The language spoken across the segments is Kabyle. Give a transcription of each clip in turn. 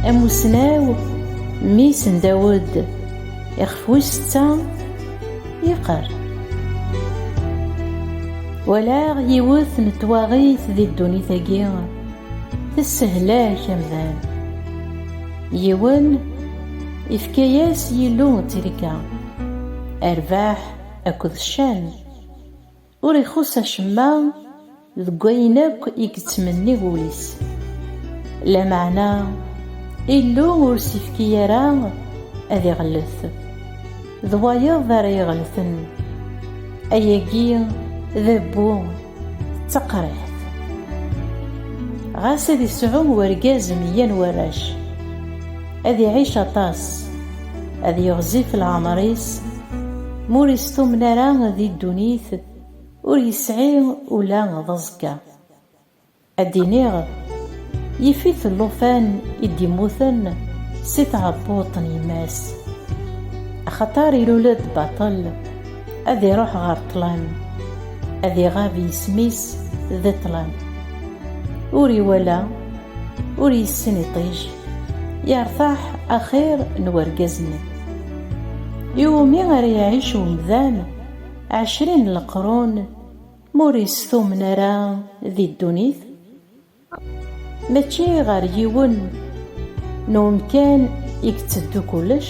Amussnaw mmi-s n Dawed, ixef wis setta, yeqqar. Walaɣ yiwet n twaɣit di ddunit-agi, tessehlak amdan. Yiwen, ifka-yas Yillu tirga, rrbeḥ akked ccan. Ur ixuṣṣ acemma deg wayen akk i yettmenni wul-is. Lameɛna, Illu ur s-ifki ara ad iɣellet. D wayeḍ ara iɣellten. Ayagi d abbu, d taqriḥt. Ɣas ad isɛu urgaz meyya n warrac, ad iɛic aṭas. Ad yeɣzif leɛmer-is, ma ur istumen ara di ddunit, ur yesɛi ula d aẓekka. Ad d-iniɣ, yif-it llufan i d-immuten si tɛebbuṭ n yemma-s. Axaṭer ilul-d baṭel, ad iruḥ ɣer ṭṭlam, ad iɣab yisem-is di ṭṭlam. Ur iwala. ur yessin iṭij yertaḥ axir n urgaz-nni. Iwumi ara iɛic umdan ɛecrin n leqrun ma ur yestumen ara di ddunit? Mačči ɣer yiwen n umkan i yetteddu kullec?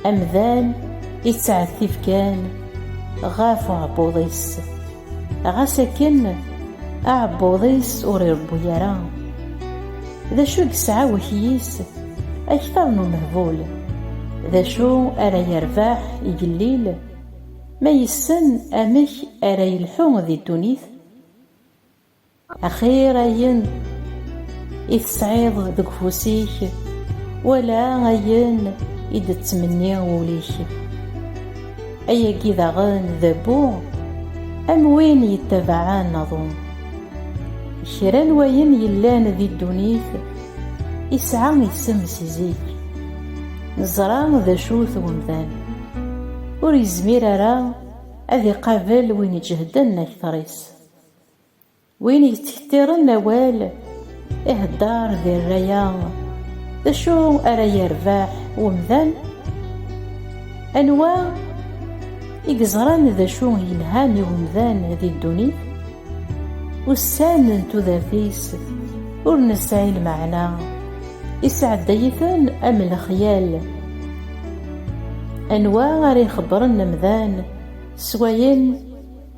Amdan yettɛettib kan ɣef uɛebbuḍ-is. Ɣas akken aɛebbuḍ-is ur irebbu ara, d acu i yesɛa wakyis akteṛ n umehbul? D acu ara yerbeḥ igellil ma yessen amek ara yelḥu di ddunit? Axir ayen i tesɛiḍ deg ufus-ik, wala ayen i d-tettmenni wul-ik. Ayagi daɣen d abbu am win yettabaɛen aḍu. Kra n wayen yellan di ddunit isɛa isem si zik. Neẓra d acu-t wemdan. Ur yezmir ara ad iqabel win iǧehden akteṛ-is. Win yettḥettiren awal ihedder di rray-a, d acu ara yerbeḥ wemdan? Anwa i yeẓran d acu yelhan i wemdan di ddunit? Ussan n tudert-is ur nesɛi lmeɛna, isɛedday-iten am lexyal. Anwa ara ixebbren amdan s wayen?